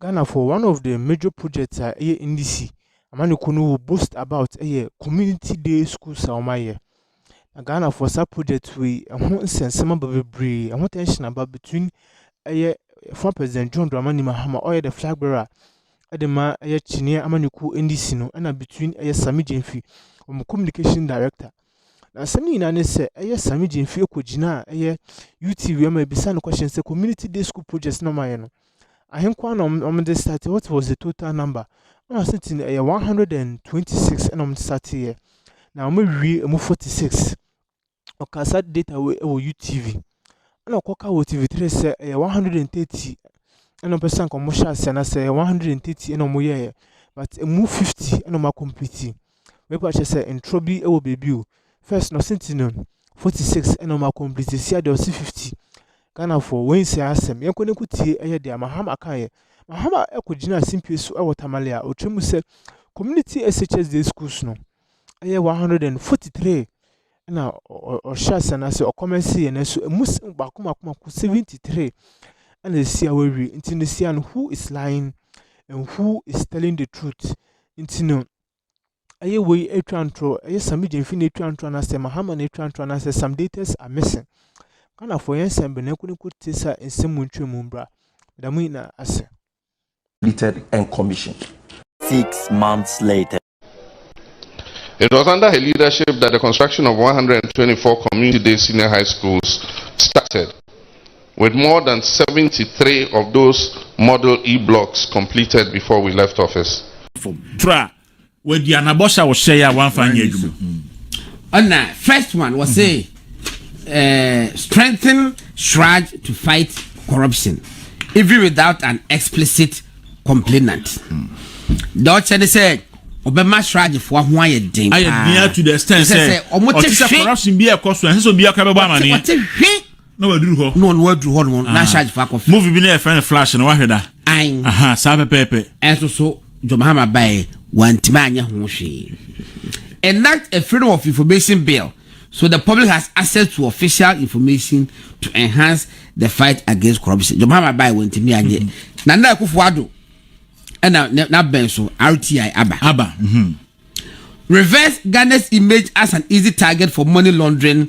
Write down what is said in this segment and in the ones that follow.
Ghanafoɔ, one of the major projects a ɛyɛ NDC amanyɔkuo no will boast about ɛyɛ community day schools a wɔayɛ. Na Ghanafoɔ saa project wei ɛho nsɛnsɛm aba bebree, ɛho tension aba between ɛyɛ former president John Dramani Mahama ɔyɛ the flag bearer ɛde ma ɛyɛ kyiniiɛ amanyɔkuo NDC no ɛna between ɛyɛ Sammy Gyamfi wɔn communication director Na asɛm no nyinaa ne sɛ, ɛyɛ Sami Gyamfie kɔgyina a ɛyɛ UTV ama ɛbisa no question sɛ community day school project na ɔmayɛ no ahenkoa na ɔmde start what was the total number na ɔsɛ ti no ɛyɛ 126 ɛna ɔmde starteɛ na ɔmawie ɛmu 46 ɔka saa data wɔ ɛwɔ UTV ɛna ɔkɔka wɔ TV3 sɛ ɛyɛ 130 ɛna ɔpɛ sɛ nka ɔmo hyɛ aseɛ na sɛ ɛyɛ 130 ɛna ɔmo yɛɛ but ɛmu 50 ɛna ɔmo akɔmpiti Me pa kyɛ sɛ ntorɔ bi wɔ baabi o first na ɔsi ti no forty six ɛna ɔmo akɔmplete si adeɛ ɔsi fifty ghanafoɔ wei nsɛ asɛm yɛn kɔ ne ko tie ɛyɛ deɛ mahama kan yɛ mahama ɛkɔ gyina simpie so ɛwɔ tamale a ɔtwa mu sɛ community shs day schools no ɛyɛ one hundred and forty three ɛna ɔhyɛ asɛm no ase ɔkɔmɛnse yɛ nanso emu baako baako baako seventy three ɛna esi awawie nti ne sia no who is lying and who is telling the truth nti no ɛyɛ wei atwa ntorɔ ɛyɛ sam gyemfi na atwa ntorɔ anaasɛ mahama na atwa ntorɔ anaasɛ sam daters are missing ghanafoɔ yɛn nsɛm bɛn na ɛkɔ ne kɔ te sɛ nsɛm mu ntwerɛ mu mbra da mu nyinaa ase completed and commissioned six months later. It was under her leadership that the construction of one hundred and twenty four community day senior high schools started. With more than seventy three of those model E blocks completed before we left office. Tra wadi anabɔhyɛ a wɔhyɛe a wɔamfa anyɛ adwuma. Ɔna first one wɔ se eh, strengthen SRAJ to fight corruption even without an explicit complainant. Deɛ ɔkyɛ ne sɛ ɔbɛma SRAJfoɔ ho ayɛ den paa. Ayɛ den to the extent sɛ ɔte sɛ corruption bi ɛkɔ so ɛsɛ sɛ obiara ka bɛbɔ amaneɛ. Ɔte hwe na waduru hɔ. na ɔno waduru hɔ nom na ahyɛ agyefa akɔfɛ. movie bi na yɛfrɛ no flash no wahwɛ da. an aha saa pɛpɛɛpɛ. ɛnso so john mahama baeɛ wantumi anyɛ ho hwee enact a freedom of information bill so the public has access to official information to enhance the fight against corruption john mahama baeɛ wantumi anyɛ mm-hmm. na na akufo ado ɛna n'abɛn so rti aba. aba. Mm-hmm. reverse ghana's image as an easy target for money laundering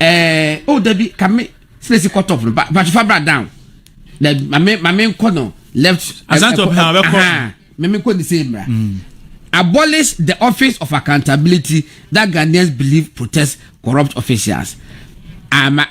ɛɛ o dabi kame silesi cut off no ba ba fa bra down na maame maame nkɔ no left. asante ɔpɛ na ɔbɛkɔ. maame nkɔ ne se mra. Mm. abolish the office of accountability that ghanaians believe protects corrupt officials ama. Ah,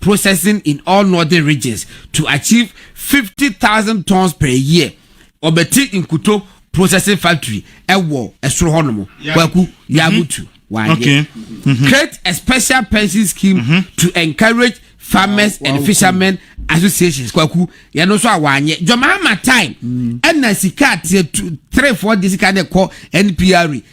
processing in all northern regions to achieve fifty thousand tons per year ɔbɛte nkuto processing factory ɛwɔ ɛsoro hɔ nom kwaku yagutu wayɛ okay. mm-hmm. create a special pension scheme mm-hmm. to encourage farmers wow, wow, and fishermen wow. associations kwaku yɛn nso a wanyɛ jɔnmaama time ɛna mm. sika ateɛ three four de sika de kɔ npr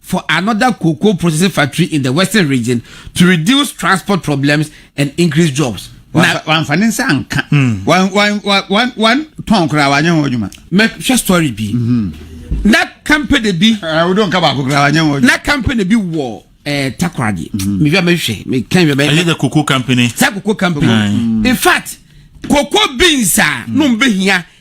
for another cocoa processing factory in the western region to reduce transport problems and increase jobs. na wamfa ne nsa anka wɔntɔn koraa wanyɛ ho adwuma mɛhwɛ story bi mm-hmm. na company bi eh, wodɔ nka baako koraa wanyɛ ho na company bi wɔ eh, takoradi mm-hmm. mehwɛ mehwɛ mekɛn hwɛ bɛyɛ the cocoa company sɛ cocoa company in fact cocoa beans a mm. no mbɛhia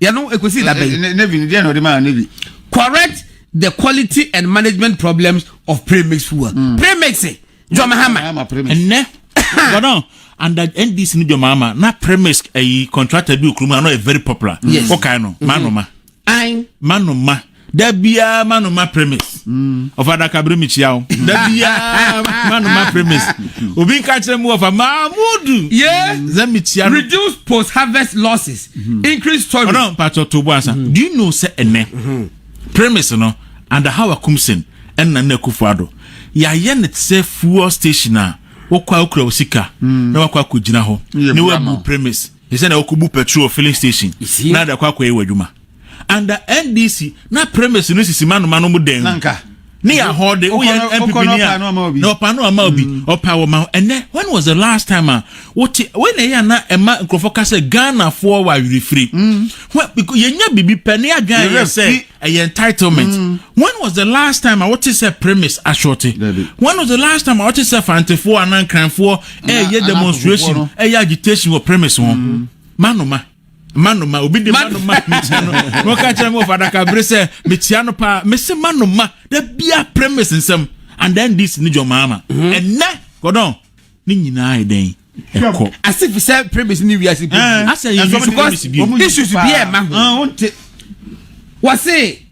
yɛ no ekosi da bɛn. navy ni deɛ na ɔde maa navy. correct the quality and management problems of premix fuel. Mm. premix eh, jɔn hama. ɛnɛ gbɔdɔn under ndc ni jɔn hama na premix ɛyi eh, contractor bi okuru mu anɔ yɛ very popular. yes ɔkan no maa nɔ ma. ayi maa nɔ ma. da biara ma no ma premise ɔfa adaka bere mekyia wo da biara ma no ma premise obi nka kyerɛ mu ɔfa maamudu sɛ mekyia no reduce post harvest losses mm-hmm. increase storage ɔno mpakyɛ to bo asa mm-hmm. do you know sɛ ɛnɛ mm-hmm. premise no under how akumsen ɛnna na akufo ado yɛayɛ ne sɛ fuel station a wokɔ a wokura wo sika mm. na wakɔ akɔgyina hɔ ne wabu premise ɛsɛ na wokɔbu petrol filling station na adakɔ akɔyɛ wɔ adwuma under ndc na premise no sisi mano mano mu dɛn ne yɛ ahɔ de woyɛ npp ni a na ɔpa no ama obi mm. ɔpa wɔ ma ɛnɛ when was the last time a wote wei na ɛyɛ ana ɛma nkurɔfoɔ ka sɛ ghanafoɔ wɔ awerɛfiri mm. yɛnya biribi pɛ ne adwene ayɛ sɛ ɛyɛ entitlement mm. when was the last time a wote sɛ premise ashorte when was the last time a wote sɛ fantefoɔ anaa nkranfoɔ ɛyɛ demonstration ɛyɛ agitation wɔ premise ho manoma manoma obi de manoma mekyia no na ɔka kyerɛ me wɔ fadaka bere sɛ mekyia no paa mese manoma da bia premise nsɛm and then this ne jɔmaama mhm. ɛnɛ kɔdɔn ne nyinaa yɛ dɛn ɛkɔ asif sɛ premise ne wiase bi eh, asɛ yɛ issues bi ɛma ho wɔse